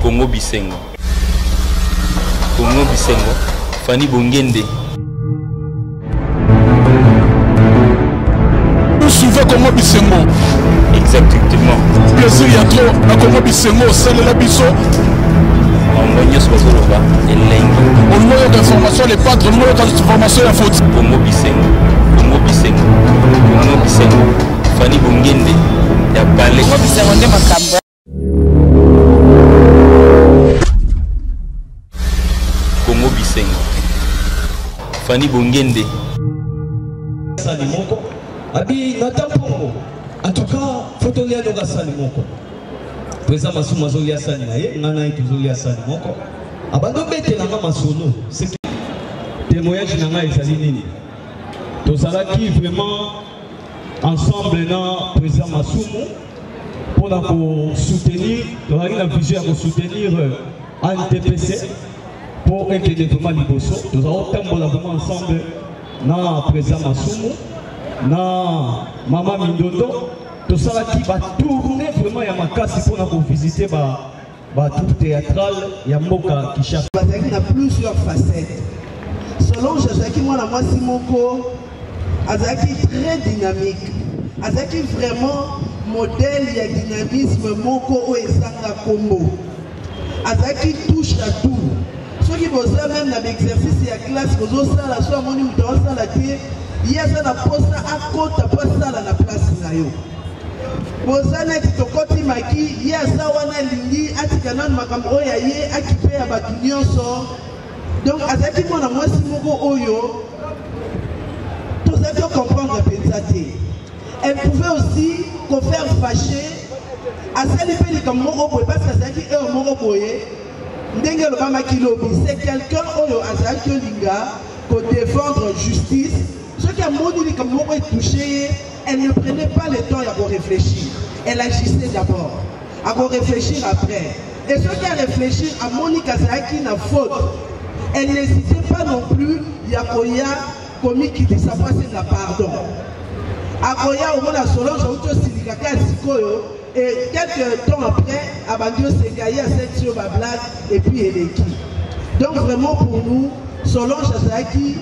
Congo Bisengo. Congo Bisengo. Fanny Bongende. Vous suivez Congo Bisengo. Exactement. Plaisir ya trop na Congo Bisengo osalela biso. bango nyonso bazoloba elengi olingo yoka information le patre olingo yoka information ya foti kongo bisengo kongo bisengo kongo bisengo Fanny Bongende ya Palais. Ko bisengo nde makambo. Kongo bisengo. Fanny Bongende. Sali moko. Abi nata pongo. En tout cas, photo lia doka sali moko. Pesa masuma zo lia sali na ye, ngana ito zo lia sali moko. Abando bete na nga masolo. C'est témoignage na nga ezali nini? Tozalaki vraiment ensemble na président masumu mpo na kosoutenir tozalaki na vision ya kosoutenir antpc euh, mpo ekende vraiment liboso tozali kotambola vraiment ensemble na président masumu na mama mindondo tosalaki batourne vraiment ya makasi mpo na kovisite ba Ba troupe théâtrale ya mboka Kinshasa bazalaki na plusieurs facettes. Solange azalaki mwana mwasi moko azalaki très dynamique, azalaki vraiment modèle ya dynamisme moko oyo ezanga nkombo. Azalaki touche à tout. soki boza meme na baexercice ya classe bozosala so amoni moto aosala te ye aza na mposa akota mpo asala na place na yo boza neti tokoti maki ye aza wana alingi atika nano makambo oyo ya ye akipe ya bato nyonso donc azalaki mwana mwasi moko oyo tozalaki ocomprendre mpenza te elle pouvait aussi kofaire fache asali mpe likambo moko boye parce que azalaki heure moko boye ndenge elobamaki lobi c'est quelqu'un oyo azalaki olinga kodefendre justice soki amoni likambo moko etouche ye Elle ne prenait pas le temps ya ko réfléchir. Elle agissait d'abord. À ko réfléchir après. Et ce qu'elle réfléchit à Monica Zaki na faute. Elle n'hésitait pas non plus ya koya komikitisa pasi na pardon. Akoya omona Solange auto silikaka sikoyo Et quelques temps après, Abandio Segaï a cette sur ma blague et puis elle est qui. Donc vraiment pour nous, Solange Azaki,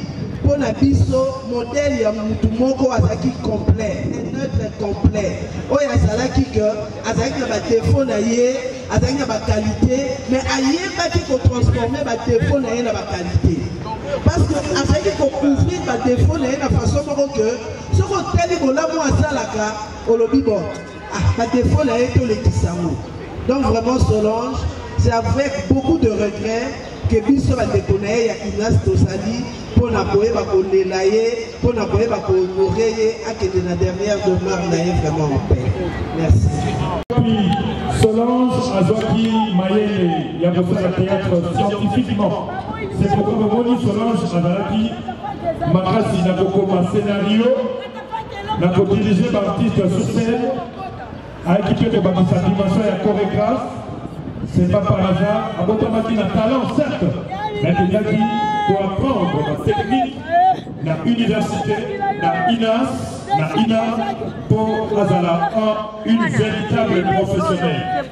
pour la biso, modèle ya mutu moko Azaki complet, un être complet. Oyo azalaki que Azaki na ba défaut na ye, Azaki na ba qualité, mais ayebaki ko transformer ba défaut na ye na ba qualité. Parce que Azaki ko couvrir ba défaut na ye na façon moko que soko tali bolamu asalaka, olobi bon. Ah, ba défaut na ye tolekisa yango. Donc vraiment Solange, c'est avec beaucoup de regrets que biso bandeko na ye ya Ignace tozali mpo na koyeba kolela ye mpo na koyeba kohonore ye akende na dernière demeure na ye vraiment en paix merci solange azwaki mayele ya kosala théâtre scientifiquement c'est pourquoi bomoni solange azalaki makasi na kokoma scénario na kodirige baartiste ya susel ayaki mpe kobakisa dimension ya choregraphe c'est pas par hasard abotamaki na talent certes mais akendaki koapprendre na technique na université na inas na ina mpo azala une véritable professionnelle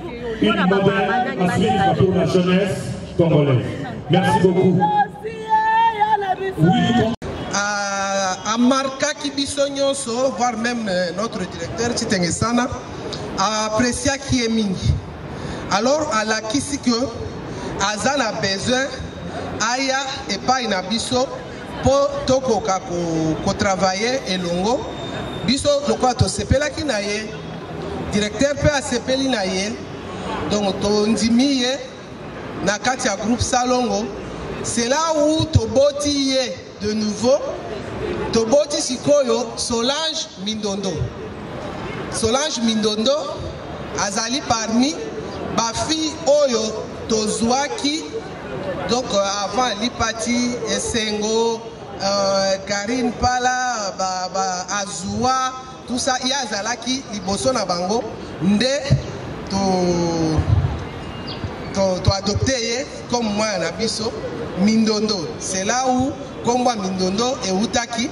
une modèle à suivre pour la jeunesse congolaise merci beaucoup Ah, amarkaki biso nyonso voire même euh, notre directeur Chitenge Sana apreciaki ye mingi alors alakisi que aza na besoin aya epai na biso mpo tokoka kotravaille ko elongo biso lokola tosepelaki na ye directeur mpe asepeli na ye donc tondimi ye na kati ya groupe salongo c'est là où toboti ye de nouveau toboti sikoyo solange mindondo solange mindondo azali parmi bafille oyo tozwaki donc euh, avant alipati esengo euh, karine pala ba, ba, azua Tout ça ye azalaki liboso na bango nde to to, to adopte ye comme mwana na biso mindondo c'est là où kombo ya mindondo ewutaki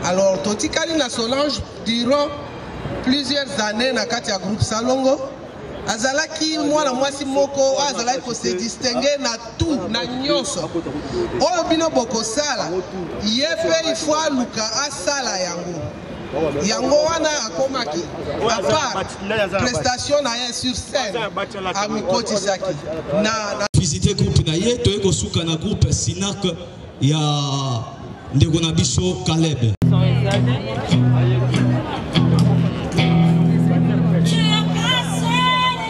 alors totikali na solange durant plusieurs années na kati ya groupe salongo azalaki mwana mwasi moko oyo azalaki kose distingue na tout na nyonso oyo bino bokosala ye mpe ifo aluka asala yango yango wana akomaki apart prestation na ye sur scène amikotisaki na visite groupe na ye toye kosuka na groupe sinac ya ndeko na biso caleb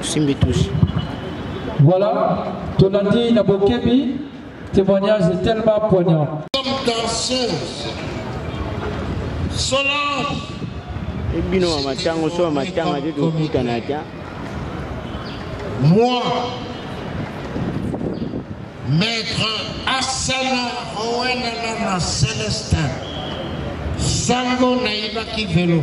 osimbi touche voilà tolandi na bokebi témoignage est tellement poignant comme danseuse solange ebino wa matango so wa matanga te tokutana ata moi maître asana owenalana celestin sango nayibaki velo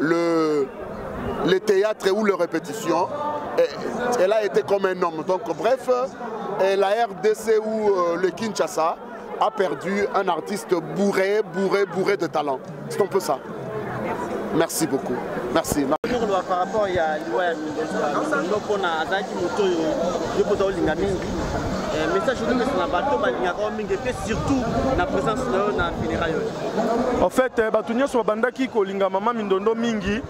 le, le théâtre ou le répétition, elle a été comme un homme. Donc bref, la RDC ou euh, le Kinshasa a perdu un artiste bourré, bourré, bourré de talent. C'est un peu ça. Merci beaucoup. Merci. koloba par rapport ya liwa ya mindo mpona azalaki moto oyo yo mpo olinga mingi eh, message olingisa na bato balingaka yo mingi mpe surtout na présence na yo na funérail oyo En fait, eh, bato nyonso babandaki kolinga mama mindondo mingi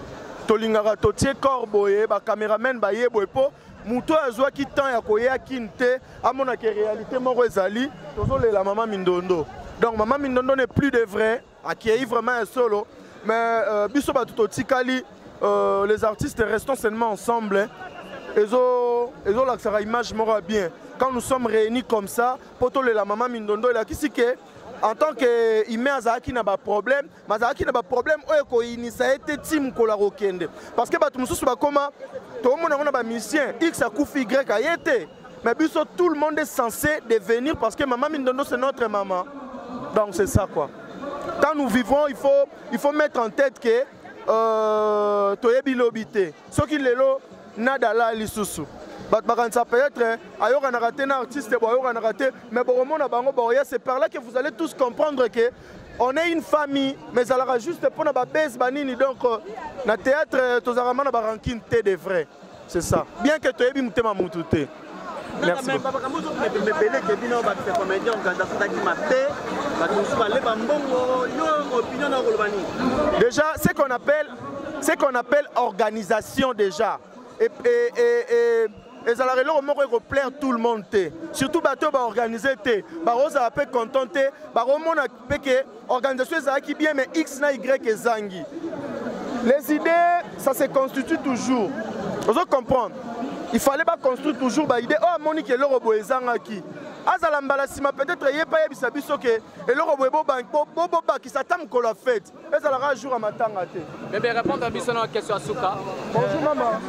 tolingaka totie corps boye bacameraman baye boye mpo moto oyo azwaki temps ya koya kine te amonaka réalité moko ezali tozolela mama mindondo donc mama mindondo ne plus de vrai akei vraiment ya solo mais euh, biso bato totikali euh, les artistes restons seulement ensemble ezolakisaka image moko ya bien quand nous sommes réunis comme ça mpo tolela mama mindondo elakisi ke en tant que humain azalaki na baproblème mais azalaki na baproblème oyo ekoyinisa ye te ti mokolo akokende parce que bato mosusu bakóma toomona yango na bamusicien x akufi y aye te mais biso tout le monde est censé devenir parce que mama mindondo c'est notre maman donc c'est ça quoi quand nous vivons il faut, il faut mettre en tête que euh, toyebi lobi te soki lelo nada alaya lisusu bato bakanisa peut-être ayokanaka te na artiste bo ayokanaka te mais bokomona bango baoya c'est par là que vous allez tous comprendre que on est une famille mais ezalaka juste mpo na babase banini donc euh, na théâtre euh, tozalaka ma na barankine te de vrai c'est ça bien que toyebi motema motu te Merci mais papa kambo zo mais mais belé que bino ba fait comédien on ganda sota ki mabe ba tout ça les ba mbongo yo opinion na koloba ni déjà ce qu'on appelle ce qu'on appelle organisation déjà et et et, et ezalaka eloko moko ekoplaire tout le monde te surtout bato oyo baorganize te bakozala mpe content te bakomona mpe ke organisation ezalaki bien mais x na y ezangi les idées ça se constitue toujours ozo comprendre il fallait baconstruire toujours baide oyo oh, amoni ke eloko boye ezangaki azala mbala nsima peut-être ye mpe ayebisa biso ke eloko boye bobakisa ata mokolo ya fete ezalaka jour ya matanga te bebe répondre biso na question ya suka bonjour mama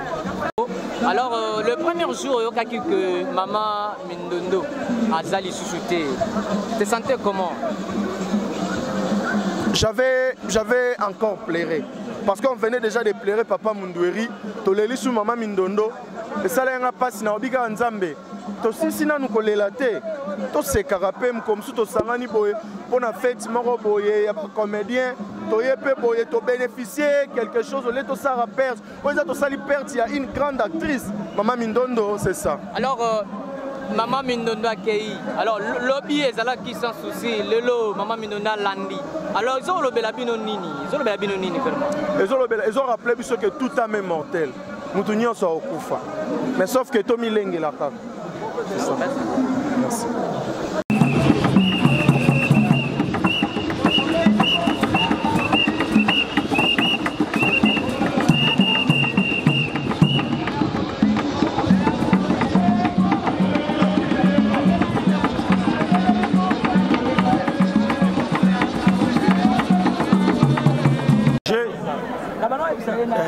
alors euh, le premier jour oyokaki que mama mindondo aza lisusu te te sentais comment j'avais j'avais encore pleuré parce qu'on venait déjà de pleurer papa mundueri toleli su mama mindondo esalaki nga mpasi na obikaka nzambe tosilisi nanu kolela te tosekaka mpe mokolo mosusu tosangani boye mpo na feti moko boye ya bacomédien toye mpe boye tobénéficie quelque chose olie tosala perte oyo eza tosali perte ya une grande actrice mama mindondo c'est ça alors euh... mama mindondo akei alors lobi ezalaki sans souci lelo mama mindondo alandi alors ezolobela bino nini ezolobela bino nini vraiment ezolobela ezorapple biso ke tout ame mortel moto nyonso akokufa mais sauf ke tomilengela kaka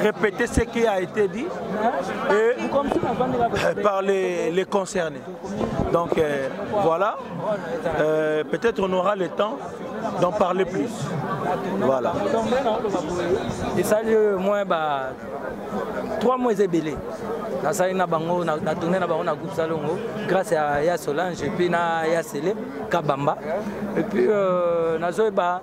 répéter ce qui a été dit et euh, par les, les concernés. Donc euh, voilà, euh, peut-être on aura le temps d'en parler plus. Voilà. Et ça, moi, bah, trois mois et belé. nasali na bango natourne na bango na groupe salongo grâce ya ya solange epuis na ya sele kabamba epuis euh, nazoyeba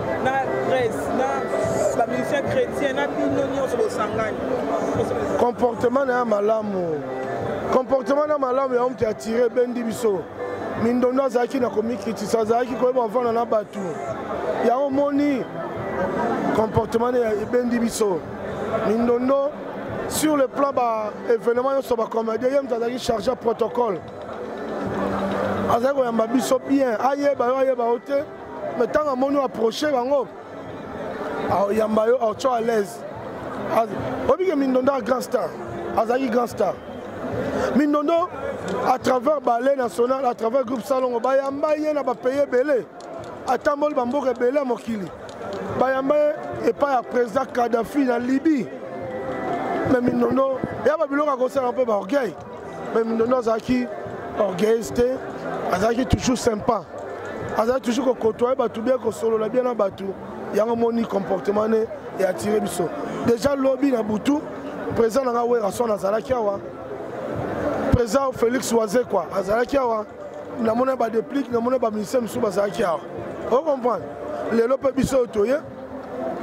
na grèce na bamusicien chrétien na bino nyonso bosangani comportement na ya malamu comportement na malamu ya omte atire ebendi biso mindondo azalaki na komikitisa azalaki koyeba ofanda na bato yango omoni comportement na ebendi biso mindondo sur le plan baévénement nyonso bacomédien ye moto azalaki charge ya protocole azali koyamba biso bien ayeba yo ayeba yo te mais ntango amoni oaproche bango aoyamba yo aotyo à l'aise obike mindondo ya grand star azalaki grand star mindondo à travers ballet national à travers groupe salongo bayamba ye na bapaye ebele atamboli bamboka ebele ya mokili bayamba ye epai ya président kadafi na libye me mindondo ya babiloko akosala mpe baorgueil mais mindondo azalaki orgueilleuse te azalaki toujours sympa azalaki toujours kokotoye bato bien kosolola bien na bato yango moni comportement ne eatire biso déjà lobi na butu président na ngai werason azalaki awa président félix wazekwa azalaki awa namona badeplique namona baministère mosusu bazalaki awa ocomprendre lelo mpe biso oyo toye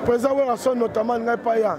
président werason notamment ngai paya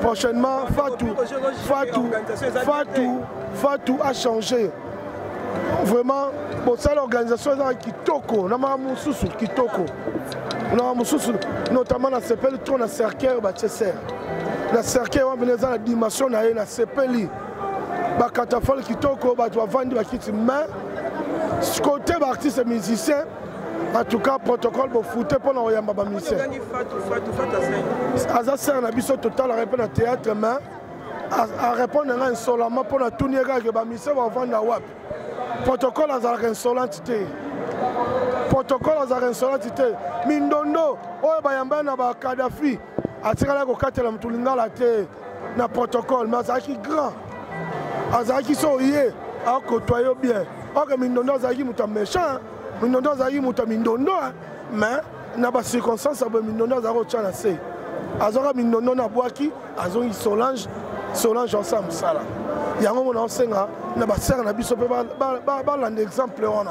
prochainement fatu fatu fatu fatu a changé vraiment bosala organisation ezaka kitoko na maka mosusu kitoko na mosusu notamment nasepeli trop na cercueil batie ser na cercueil wana mpena eza na dimension na ye nasepeli bakatafale kitoko bato bavandi bakiti mais côté baartiste musicien en tout cas protocole bofute mpo na koyamba bamisien aza sere na biso totalaka ye mpe na théâtre mais arépondre ngai insolama mpo na tuni ye kaka bamisien bavanda wapi protocole azalaka insolente te protocole azalaka insolente te mindondo oyo bayamba na bakadafi atikala kokatela motu lingala te na protocole mais azalaki grand azalaki so oye akotoa yo bien oke mindondo azalaki moto ya méchant mindondo azalaki moto ya mindondo mais na bacirconstance ya boye mindondo azalaki otya na se azwaka mindondo na bwaki azongi solange solange osa mosala yango mona osenga na basere na biso mpe balanda exemple wana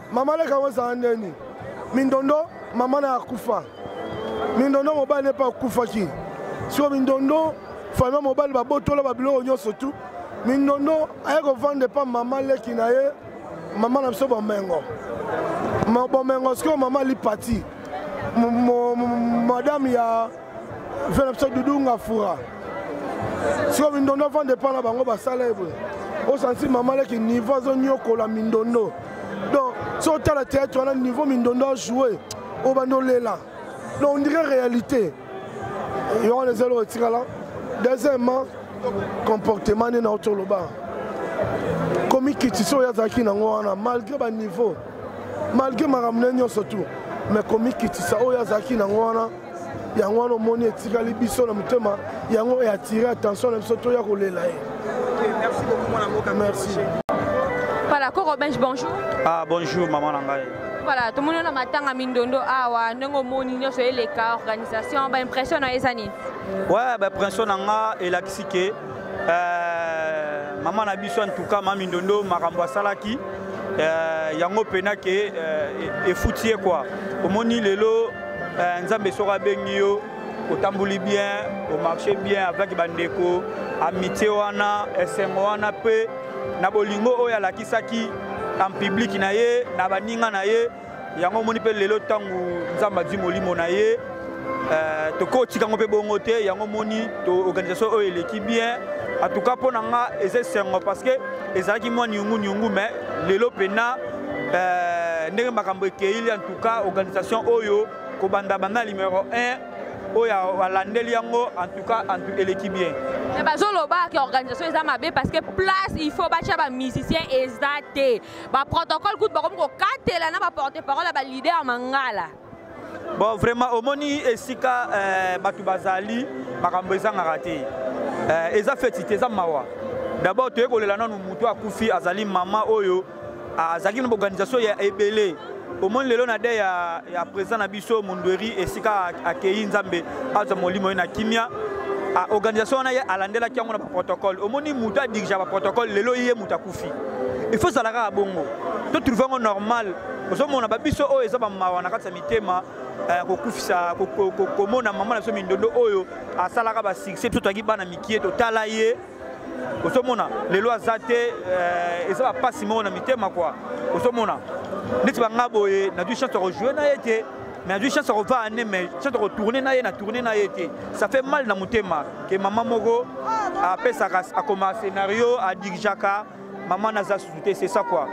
mama leka yango ezala ndeni mindondo mama na akufa mindondo mobali epa akufaki siko mindondo fama mobali babotola babiloko nyonso tu mindondo aye kovanda epa mama leki na ye mama na biso bomengo bomengo sikoyo mama lipati madame ya fela biso dudu ngafura siko mindondo afanda epai na bango basala ye boye osansi mama leki niveau azoniokola mindondo donc so otala théâtre wana niveau mindondo ajoue obandi olela donc ondire réalité yo wana ezali otikala deuxièmement comportement nde na yo toloba komikitisa oyo azalaki nango wana malgré baniveau malgré makambo na ye nyonso tu mais komikitisa oyo azalaki nango wana yango wana omoni etikali biso na motema yango eatire attention na biso toya kolela ye merci voilà koko bench bonjour ah bonjour maman na ngai voilà tomoni na matanga mindondo awa ndenge omoni nyonso eleka organisation baimpression na yo eza nini ouais baimpression na nga elakisi ke euh, mama na biso antuka ma mindondo makambo asalaki euh, yango mpena ke euh, efuti ye kua omoni lelo eh, nzambe soki abengi yo otamboli bien omarche bien avec bandeko amitié wana esengo wana mpe na bolingo oyo alakisaki en public na ye na baninga na ye yango omoni mpe lelo ntango nzambe azwi molimo na ye eh, tokotika yango mpe bongo te yango omoni organisation oyo eleki bien en tout cas mpo na nga eza esengo parce que ezalaki mwa niungu niungu mais lelo mpena eh, ndenge makambo ekei ka organisation oyo kobanda banda numero 1 oyo alandeli yango en tout cas eleki bien mais bazoloba ke organisation eza mabe parce que place il faut batya bamusicien eza te baprotocole kutu bakomi kokatela na baporte parole ya balider mangala bon vraiment omoni esika euh, bato bazali makambo ezangaka te euh, eza feti te eza mawa d'abord toye kolela nanu motu akufi azali mama oyo azalaki na baorganisation ya ebele omoni lelo na de ya, ya président na biso mondweri esika akei nzambe azwa molimo ye na kimia organisation wana ye alandelaki yango na baprotocole omoni moto adirigea baprotocole lelo ye moto akufi il faut ezala kaka bongo to trouve yango normal ozomona babiso oyo eza bamawa na kati ya mitema eh, kokufisa komona mama na biso mindondo oyo asalaka basuccès biso toyaki bana mikie totala ye ozomona lelo aza te euh, eza bapasi moko na mitema kua ozomona neti banga boye nazwi chance ya kojoue na ye te mais azwi chance ya kovaa ne mais chance ya kotourne na ye na tourne na ye te ça fait mal na motema ke mama moko apesaka akoma scénario adirigaka mama naza susu te c'est ça quoi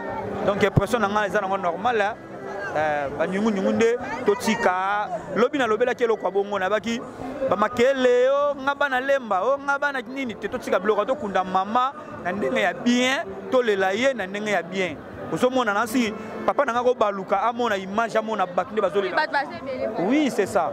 donc impression na ngai eza nango normal eh, banyungunyungu nde totika lobi nalobelaki eloko ya bongo nayebaki bamakele o oh, nga bana lemba o oh, nga bana nini te totika biloko tokunda mama na ndenge ya bien tolela ye na ndenge ya bien ozomona nansi papa na nga kobaluka amona image amona bato nde bazolela oui c'est ça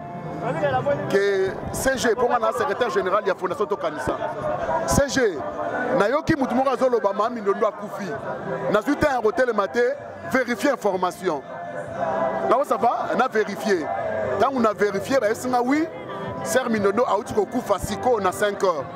ke cg mpo nga na secrétaire général ya fondation tokanisa cg nayoki motu moko azoloba maa mindondo akufi nazwi temps ya kotelema te vérifier information nao ça va na vérifier ntango na vérifier bayesinga wi ser mindondo auti kokufa sikoyo na 5 heures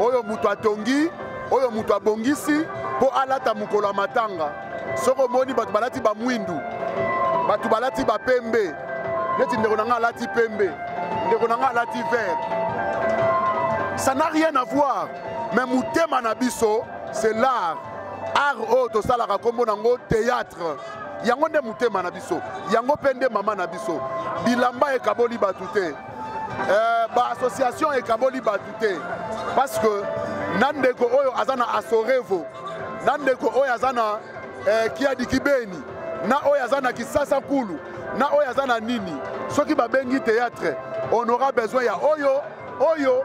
oyo moto atongi oyo moto abongisi mpo alata mokolo ya matanga soki omoni bato balati bamwindu bato balati bapembe neti ndeko na ngai alati pembe ndeko na ngai alati vert ça n'a rien à voir mais motema na biso c'est l'art art oyo tosalaka nkombo na yango théâtre yango nde motema na biso yango mpe nde mama na biso bilamba ekaboli bato te Euh, ba association ekaboli bato te parce que na ndeko oyo aza na asorevo na ndeko oyo aza na eh, kiadi kibeni na oyo aza na kisasa kulu na oyo aza na nini soki babengi théâtre on aura besoin ya oyo oyo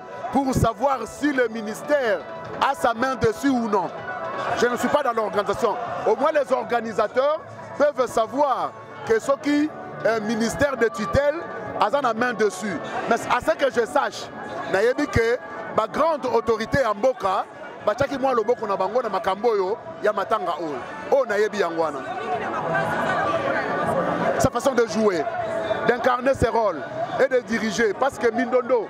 pour savoir si le ministère a sa main dessus ou non. Je ne suis pas dans l'organisation. Au moins les organisateurs peuvent savoir que ce qui est euh, ministère de tutelle a la main dessus. Mais à ce que je sache, nayebi que ma grande autorité en Boka, batiaki mwa loboko na bango na makambo oyo ya matanga oyo oyo nayebi yango wana sa façon de jouer d'incarner ses rôles et de diriger parce que mindondo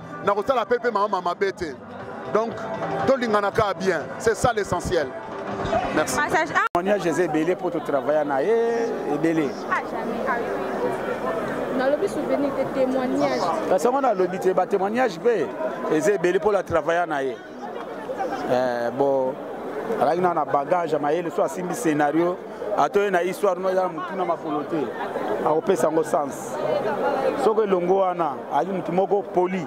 na kosala pe pe mama mabe te donc tolingana kaka bien c'est ça l'essentiel merci témoignage eza ebele mpo totravailla na ye ebele nalobi souvenir te témoignage kasi yango nalobi te batémoignage mpe eza ebele mpo la travailla na ye eh, bo alaki na na bagage ya mayele so asimbi scenario atoye na histoire no ezala motuna makolo te akopesa yango sens soki elongo wana ali motu moko poli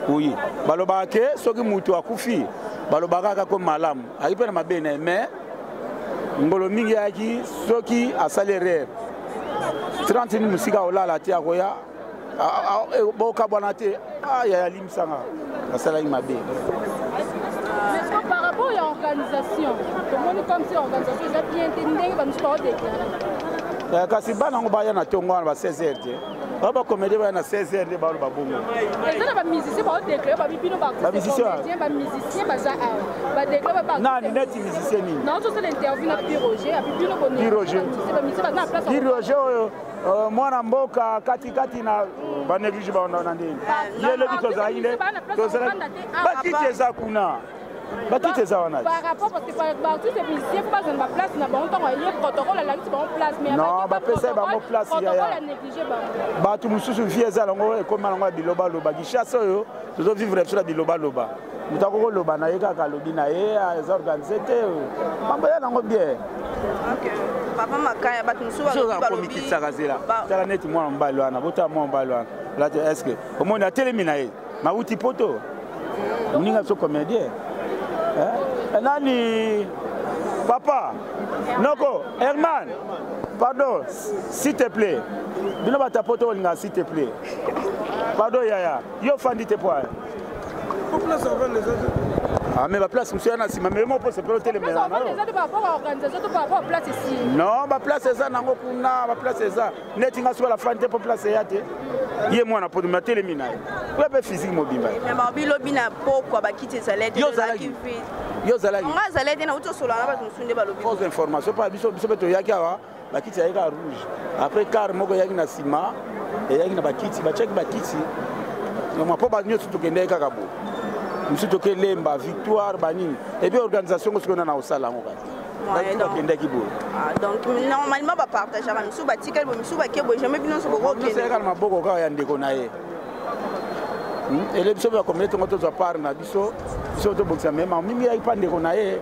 oye balobaka ke soki motu akufi balobaka kaka ko malamu ayaki mpe na mabe na ye mais ngolo mingi ayaki soki asali erreur 30 mosika olala te akoya eh, bokabwana te ah, yaya limisanga nasalaki mabe par rapport ya organisation tomoni comme si organisation eza bien te ndenge bamisusu baodeklare eh, kasi bana yango baya na ntongo wana ba 16 heure te oyo bakomedi baya na 16 heure nde balo babongo nani neti musicien nini piroge oyo Euh, mwana mboka katikati na baneglige baona na ndenge ye lobi tozalaki nde tozalaki bakiti eza kuna bakiti eza wana non bapesai bango place yaya bato mosusu vie eza yango ekoma yango ya bilobaloba gishasa oyo tozovivre biso na bilobaloba moto akoko loba na ye kaka alobi na ye eza ah, organise te mambo ya nango bien papa makaya bato mosusuakomikitisaka zela tala neti mwana mobali wana botala mwana mobali wana lati estce omoni atelemi na ye mawuti poto mm. moninga biso comédien eh, nani papa noko herman pardon s'il te plaît bino batapoto olinga s'il te plaît pardon yaya yo ofandi te poa Ah, mais baplace mosusu ya na nsima meme mpo sepela otelemela non baplace eza nango kuna baplace eza neti nga soki alafani te mpo place eya te ye mwana poto me atelemi na ye oya mpe physique mobimba bilobi na pokwa bakiti ezalete yo ozalaki yo ozalaki nga azalaki te nauti osolola na bato mosusu nde balobi information mpo biso mpe toyaki awa bakiti yaki kaka rouge après car moko eyaki na nsima eyaki na bakiti batiaki bakiti mpo ba nyonso tokendaki kaka bo mosusu toke lemba victoire banini ebi organisation ngo soki ona na kosala yango kaka bakendaki boye ah, donc normalement bapartageaka misusu batikali boye misusu bake boye jamais bino nyonso bokokelaka na maboko kaka ya ndeko na ye hmm? ele biso bakomele tongo tozwa part na biso biso tobongisa mema mingi yaki mpa ndeko na ye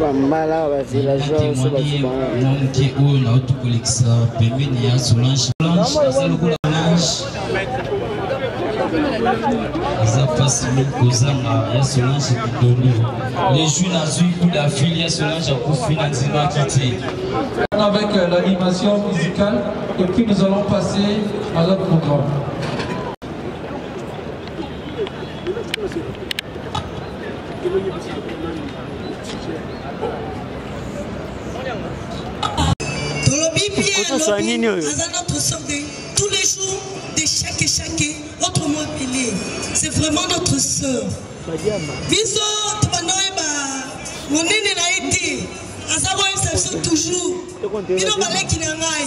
bambala bavillageois so bazobanga na moke oyo nauti kolekisa pembeni ya solange blanche aza lokola blanche aza mpasi mingi kozanga ya solange kitolo lejui nazwi kuda fili ya solange akufi na nzimaki te avec euh, l'animation musicale et puis nous allons passer à l'autre programme tolobi bien aza notre sort de tous les jours de chaque chaque autre mot pele c'est vraiment notre sœur biso tobanda oyeba monene na ye te aza koyebisa biso toujours bino baleki na ngai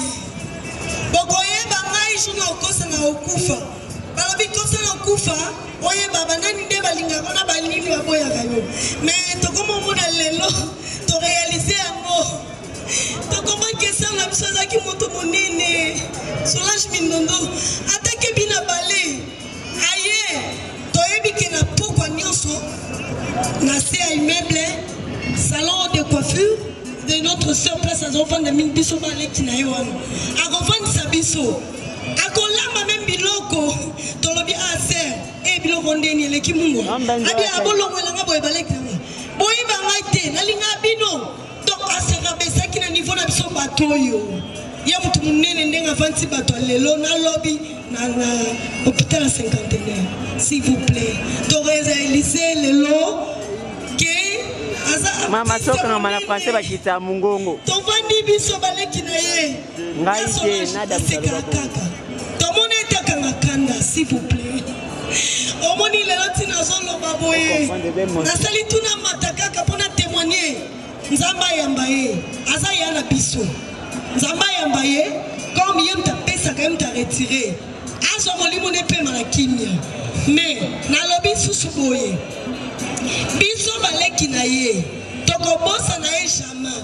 bokoyeba ngai jour na okosa na okufa balobi kosa na kufa oyeba banani nde balingaka na banini baboyaka yo me tokoma omona lelo torealize yango tokomaki esala na biso azalaki moto monene solage mindondo atake bina bale aye toyebi ke na pokwa nyonso na se ya immeuble salon de coiffure de notre sœur place azofanda mingi biso baleki na ye wana akofandisa biso akolamba meme biloko tolobi a ah, ser e eh, biloko ndeni eleki mungu abi abolongo elanga boye baleki yango boyeba ngai te nalinga bino donc aserabesaki na niveau na biso bato oyo ye moto monene ndenge avandi bato ya lelo na lobi na hôpital ya cinquantenaire s'il vous plaît toreza elise lelo ke aza mama soka na mana français bakita mongongo tovandi biso baleki na ye ngai te nadamisaloba bongo tomoni ete akanga kanda s'il vous plaît omoni lelo ntina azoloba boye nasali tuna mata kaka mpo na témoigne nzambe ayamba ye aza ya na biso nzambe ayamba ye comme ye moto apesaka ye moto aretire azwa molimo ne mpema na kimia me nalobi susu boye biso baleki na ye tokobosana ye jamais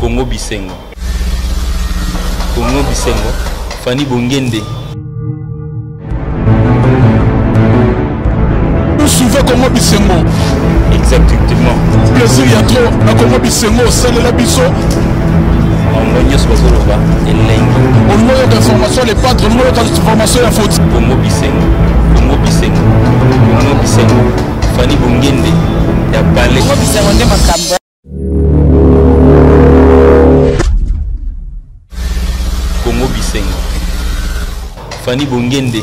Congo Bisengo. Congo Bisengo. Fanny Bongende. suve kongo bisengo exactement plaisir ya trop na kongo bisengo osalela biso bango nyonso bazoloba elengi olingo oyoka information ya lepatre olingo oyoka information ya foti kongo bisengo kongo bisengo kongo bisengo fani bongende ya bale kongo bisengo nde makambo Congo Bisengo Fanny Bongende